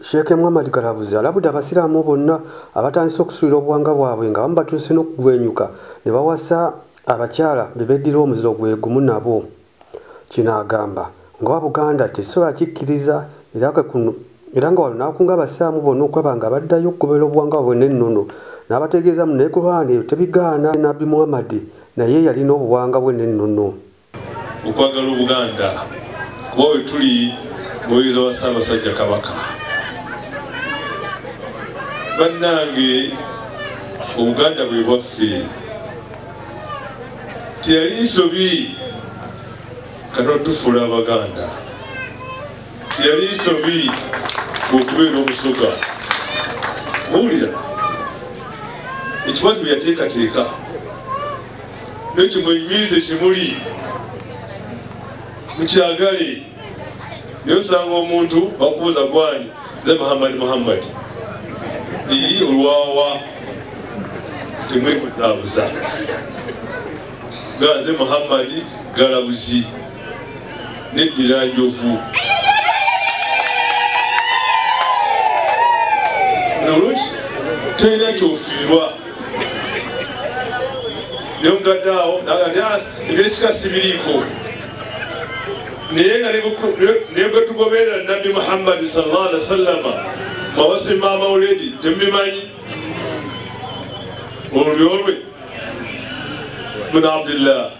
Sheikh Muhammad Kalabuzi alabudde abasiraamu bonna abatandise okusuulira obuwanga bwabwe nga bamu batuuse n'okugwenyuka ne bawasa abakyala be beddira omuziro gwe gumu nabo kino agamba ngaowa buganda tekisobola kikkiriza era kekuno era nga wano n'akunga abasiraamu bonna okulaba nga baddayo okugobera obuwanga bwabwe n'ennono n'abategeeza mu naye kulwana eyo tebigaana nabbi muhammadi naye yalina obuwanga bwe n'ennono okwagala obuganda kuba wetuli muweereza wa ssaabasajja kabaka bannange obuganda bwe bwaffe teyali nsobi kanotufuula abaganda teyali nsobi okubeera omusoga muwulira ekikwati bwe yateekateeka nekyo mwenyweze kimuli mukyagale naye osanga omuntu bakubuuza gwani ze muhammadi muhammadi ii olwawa temwebuzaabuza gaze muhammadi galabuzi neddira njovu nolwekyo tolina kyofiirwa naye omutadde awo ebyekika ah, sibiriiko naye nga nebwetugoberera nabbi muhammadi salllah ali wasallama mawasi maama oledi temubimanyi olulyo lwe buna abdillah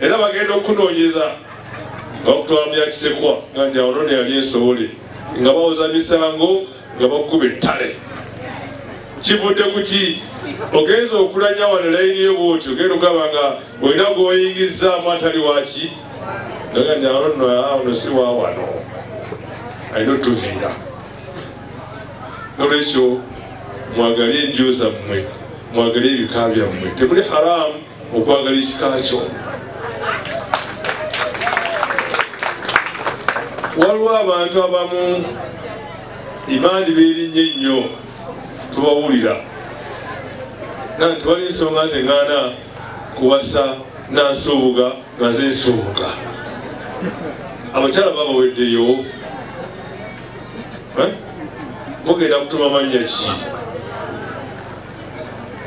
era bagenda okunoonyeza nga bakutwala mu yakisekwa nga nti awo none yali ensobole nga bawoza misango nga bakuba ettale kivudde ku ki ogenza okulanya wano layini yo bwoti ogenda okugamba nga olina gwoyingizzaamu atali waki aga nti awo nno awono si wa wano alina otuviira nolwekyo mwagale endyo zammwe mwagale ebika byammwe temuli haramu okwagala ekika kyo waliwo abantu abamu imaani beerinnye nnyo tubawulira na nti wali nsonga zeŋŋaana kuwasa nansuubuga nga ze nsuubuga abakyala babaweddeyo eh? mugenda kutuma mannya ki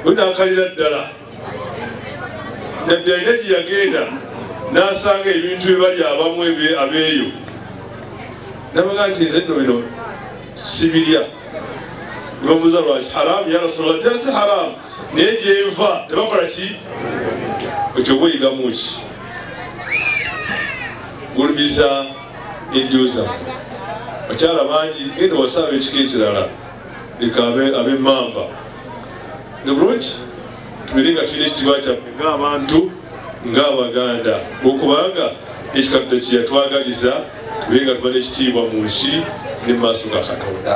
wenakalira ddala nabbi alina gye yagenda n'asanga ebintu bye bali abamu abeeyo nabaga nti nze nno bino sibirya nebamuuza lwaki haramu ya rasulllah tera si haramu naye gyenva tebakola ki ekyo bweyigamu ki gulumiza enjoza bakyala bangi genda wasaba ekika ekirala leka abe mamba nebulungi tubere nga tulina ekitiibwa kyaffe ng'abantu ng'abaganda okubanga ekikaddo kyeyatwagaliza tubere nga tumana ekitiibwa mu nsi ne mu maaso ga katonda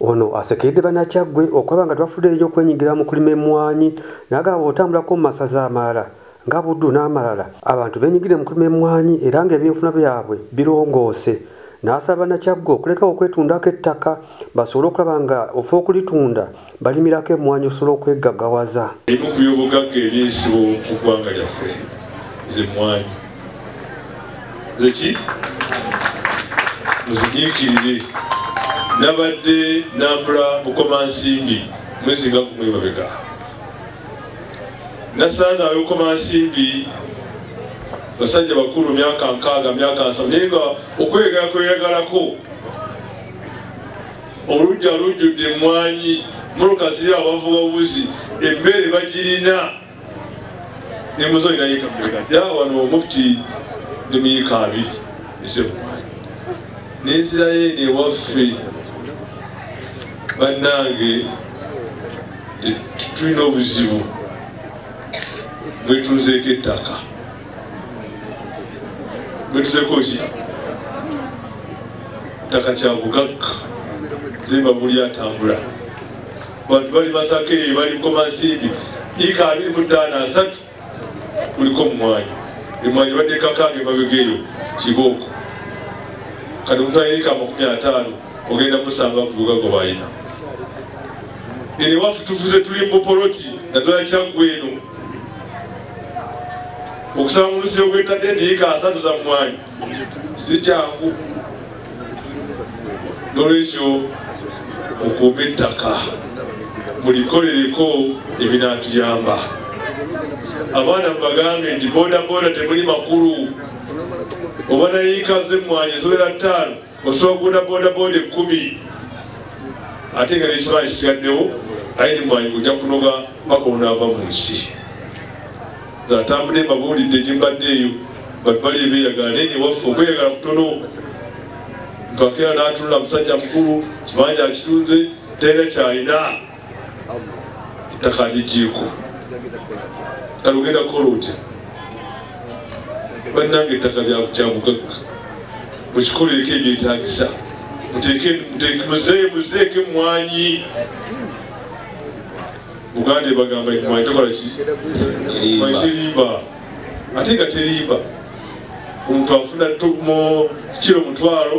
Ono asekeredde banakyaggwe okulaba nga tebafuddeyo nnyo okwenyigira mu kulima emmwanyi n'agamba otambulako mu masaza amalala nga Buddu n'amalala abantu beenyigire mu kulima emmwanyi era ng'ebyenfuna byabwe birongoose n'asaba banakyaggwe okulekawo okwetundako ettaka basobole okulaba nga ofa okulitunda balimirako emmwanyi osobola okweggagawaza. Ebimu ku byobugagga eby'ensibo mu ggwanga lyaffe z'emmwanyi. zeki muzinyikirire nabadde nambula bukomansimbi mwezi nga kumwebabega nasanze abebukomansimbi basajja bakulu myaka nkaaga myaka nsaba naye nga okweyagala kweyagalako olujja lujjudde emwanyi muluka ziri abavuba obuzi emmere bagirina ne muzoyi naye kamubeera nti awo wano omufti ne muyika abiri ese mumwanyi nenzirayo eno ewaffe bannange tulina obuzibu bwetuzeeko ettaka bwetuzeeko ki ttaka kya bugagga zemba buli atambula bantu bali masaka eyo bali nkomansimbi ika abiri mu ttaano asatu kuliko omumwanyi emwanyi badde kakange babegeyo kibooko kati omuntu ayina ika amakumi ataano ogenda musanga kuvuga gwe bayina ene wafu tufuze tuli mubupoloti naddala kyaggwe eno okusanga omusiro gwetadde nti ika asatu za mwanyi si kyangu nolwekyo mukuume ettaka mulikolereko ebinatuyamba abaana mubagambe nti bodaboda temuli makulu oba nayiika ze mmwanyi ziwera ttaano osobola boda boda ekumi ate nga nekibaa kisigaddewo aye nemwanyi ojja kunoga paka onaava mu nsi atambudde mbabuulidde gyembadde eyo batu bali ebeyagala naye newaffe okweyagala kutono kakera natunula musajja mukulu kibanja akitunze tera kyalina ettaka ligiiko kale ogenda kukola otya bannanga ettaka lyabugagga mukikolereko ebyetagisa muzeeko emwanyi buganda ebagamba emwanyi tokola ki mwanyi terimba ate nga terimba omuntu afuna kiro mutwalo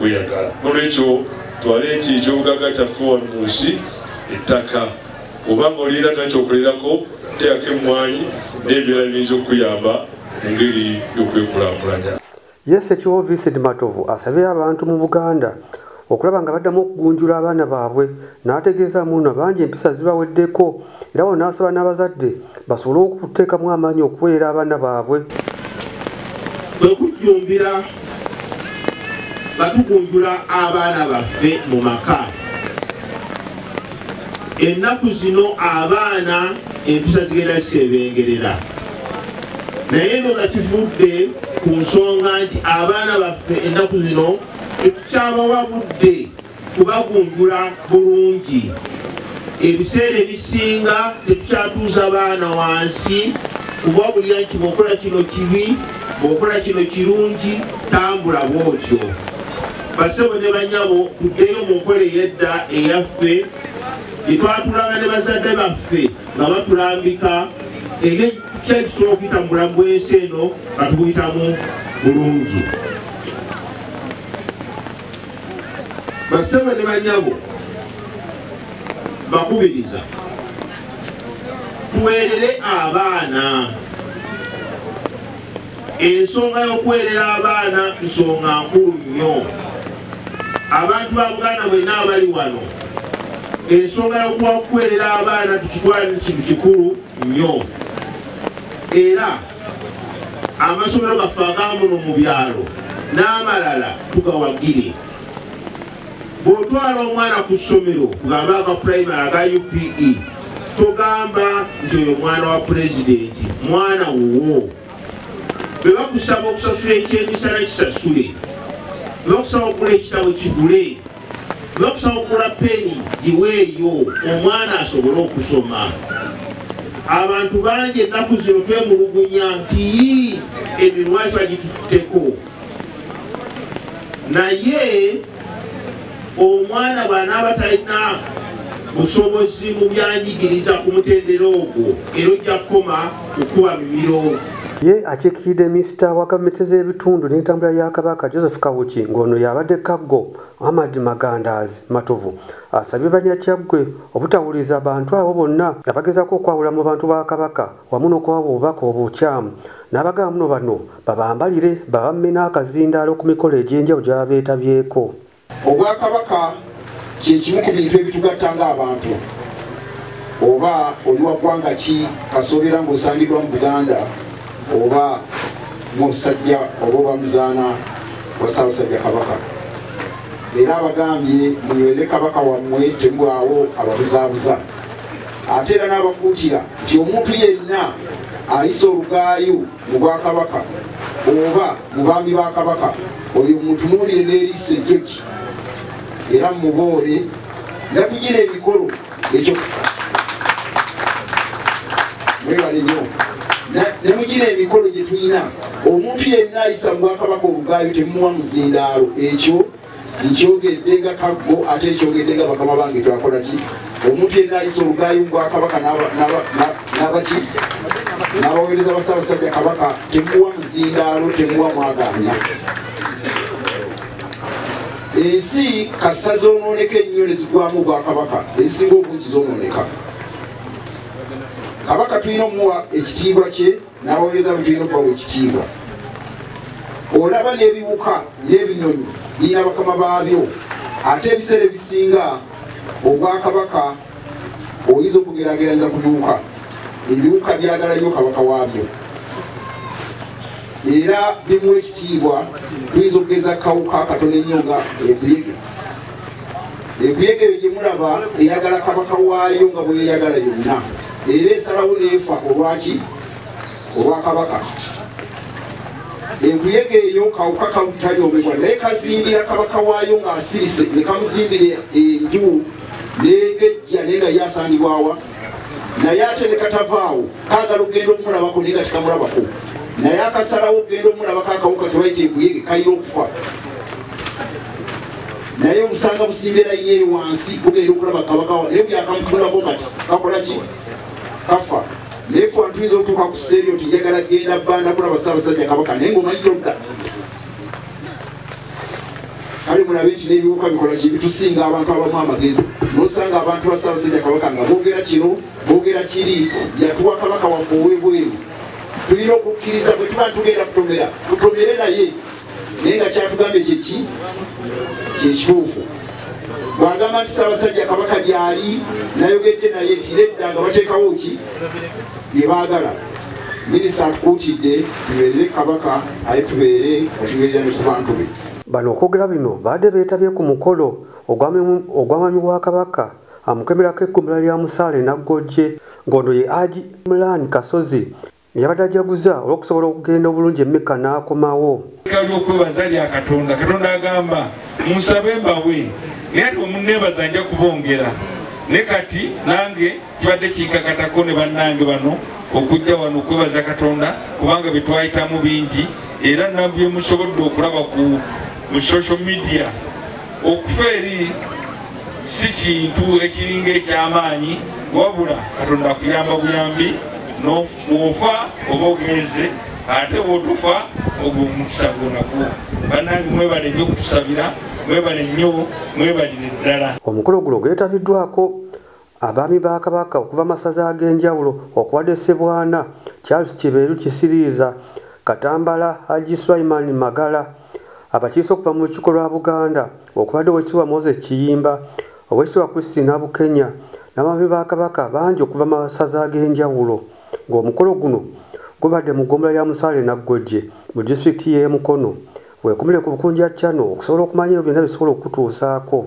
weyagala nolwekyo twale nti ekyobugaga kyaffe wano mu nsi ettaka oba nga olina takyokolerako teako emmwanyi n'ebirala ebiyinza okukuyamba mu ngeri y'okwekulakulanya yes ekiwo vincent matovu asabye abantu mu buganda okulaba nga baddamu okugunjula abaana baabwe n'ategeezaamu nno bangi empisa zibaweddeko era wano n'asaba n'abazadde basobole okuteekamu amaanyi okuweera abaana baabwe kwekujjumbira nga tugunjula abaana baffe mu maka ennaku zino abaana empisa zigenda zisebengerera naye no nga kivudde ku nsonga nti abaana baffe ennaku zino ekukyabawa budde kubagunjula bulungi ebiseera ebisinga tetukyatuuza baana wansi kubabulira nti bwokola kino kibi bwokola kino kirungi tambula bwotyo basebo ne banyabo tuddeyo mu nkola eyedda eyaffe gyetwatulanga ne bazadde baffe nga batulambika eri kyekisobola okuyita mu bulamu bwensi eno nga tukuyitamu bulungi basebo ne banyabo bakubiriza tuwerere abaana ensonga y'okuwerera abaana nsonga nkulu nnyo abantu ba buganda bwenna abali wano ensonga y'okuwa okuwerera abaana tukitwalire kintu kikulu nnyo era amasomero gaffe agamuno mu byalo n'amalala tugawagire bw'otwala omwana ku ssomero kugamba aga primary aga upe togamba nti oyo mwana wa pulezidenti mwana wuwo bwe bakusaba okusasula ekyemisana kisasule bwe bakusaba okugula ekitabo kigule nokusawukula peni giweeyo omwana asobole okusoma abantu bangi ennaku zino twemulugunya nti emimwa kiba gitututteko naye omwana bwanaaba talina busobozi mu byanjigiriza ku mutendera ogwo era ojja kukoma kukuwa bibiro ye akiikiride minisita wa gavumenti z'ebitundu n'entambula ya kabaka joseph kawuki ng'ono yabadde kaggo muhammad magandaazi matovu asabye banyakyaggwe obutawuliriza bantu abo bonna abagezaako okwawula mu bantu ba kabaka wamu n'okuwa obubaka obukyamu n'abagamba muno bano babambalire babamme n'akazindaalo ku mikolo egy'enjawulo gyabeetabyeko obwakabaka kyekimu ku bintu ebitugatta nga abantu oba oli wagwanga ki kasoobera ngaosangiddwa mu buganda oba musajja oba oba muzaana wa saabasajja kabaka era abagambye munywere kabaka wammwe temubwawo ababuzaabuza ate era n'abakuutira nti omuntu yenna ayisa olugaayu mu bwakabaka oba mu baami ba kabaka oyo mutunuulire n'erisa ejjoki era muboole nakugira emikolo ekyo mwebale nyo nemugira emikolo gye tulina omuntu yenna ayisa mu bwakabaka obugaayo temuwa muzindaalo ekyo nkyogedde nga kaggo ate nkyogedde nga bakama bange twakola ki omuntu yenna ayisa olugaayi mu bwakabaka nabaki n'abaweereza basaabasajja kabaka temuwa muzindaalo temuwa mwagaanya ensi kasa zonooneka ennyo nezigwamu obwakabaka ezisinga obungi zonooneka kabaka tulina omuwa ekitiibwa kye n'abaweereza be tulina okubawa ekitiibwa olaba n'ebiwuka n'ebinyonyi birina bakama baabyo ate ebiseera ebisinga obwakabaka oyinza okugerageranyza ku biwuka ebiwuka byagala nnyo kabaka waabyo era bimuwa ekitiibwa tuyinza okugeza kawuka katono ennyo nga ekuyege enkuyege eyo gyemulaba eyagala kabaka waayo nga bweyeyagala yonna era esalawo neefa olwaki olwakabaka enkuyege eyo kawuka kalutanyomebwa naye kazimbira kabaka waayo ng'asirise ne kamuzimbira enju negejja naye nga ye asangibwawa naye ate ne katavaawo kaagala okugenda okumulabako naye nga tekamulabako naye akasalawo okugenda okumulabako akawuka kebaita enkuyege kalina okufa naye obusanga busimbira yeeri wansi bugenda okulaba kabakawa naye byakamutulako kati kakola ki kafa naye fe antuyinza okutuuka ku seerio tinjagala kugenda banda kulaba saabasajja kabaka naye ngaomanyi todda kale mulabe nti n'ebiwuka bikola ki bitusinga abantu abamu amagezi nosanga abantu ba ssaabasajja kabaka nga boogera kino boogera kiri yatuwa kabaka waffe ow'ebweru tulina okukkiriza bwe tuba tugenda kutomera tutomere naye naye nga kyatugambye kyeki kyekituufu bwagamba nti ssaabasajja kabaka gyali nayogedde naye tiredda nga bateekawo ki bye baagala minisita atukuutidde tubeerere kabaka aye tubeere nga tubeerera ne ku bantu be bano okwogera bino baadde beetabye ku mukolo ogw'amami wa kabaka amukemerako ekkumbula lya musaale naggojje ngondo ye agi mulaani kasozi neyabadde ajaguza olw'okusobola okugenda obulungi emmeka n'akomawo lyokwebaza lya katonda katonda agamba munsabe mbawe era omuneebaza nja kubongera ne kati nange kibadde kinkakatako ne bannange bano okujja wano okwebaza katonda kubanga byetwayitamu bingi era nabyemusobodde okulaba ku mu social media okufa eri si kintu ekiringa ekyamaanyi wabula katonda akuyamba buyambi nofa oba ogenze ate bwotufa ogwo omukisa gwonagwo banange mwebale nyo okutusabira mwebale nyo mwebalire ddala omukolo guno gwetabiddwako Abaami ba Kabaka okuva masaza ag'enjawulo okubadde Ssebwana, Charles Kibeeru Kisiriiza, Katambala Haji Sulaiman Magala, abakiise okuva mu lukiiko lwa Buganda okubadde Owekitiibwa Moses Kiyimba, Owekitiibwa Christine Abukenya n'abaami ba Kabaka bangi okuva masaza ag'enjawulo ng'omukolo guno gubadde mu ggombolola ya Musaale Naggojje mu disitulikiti y'e Mukono. Weekumire ku Bukunja Channel okusobola okumanyayo byonna bisobola okutuusaako.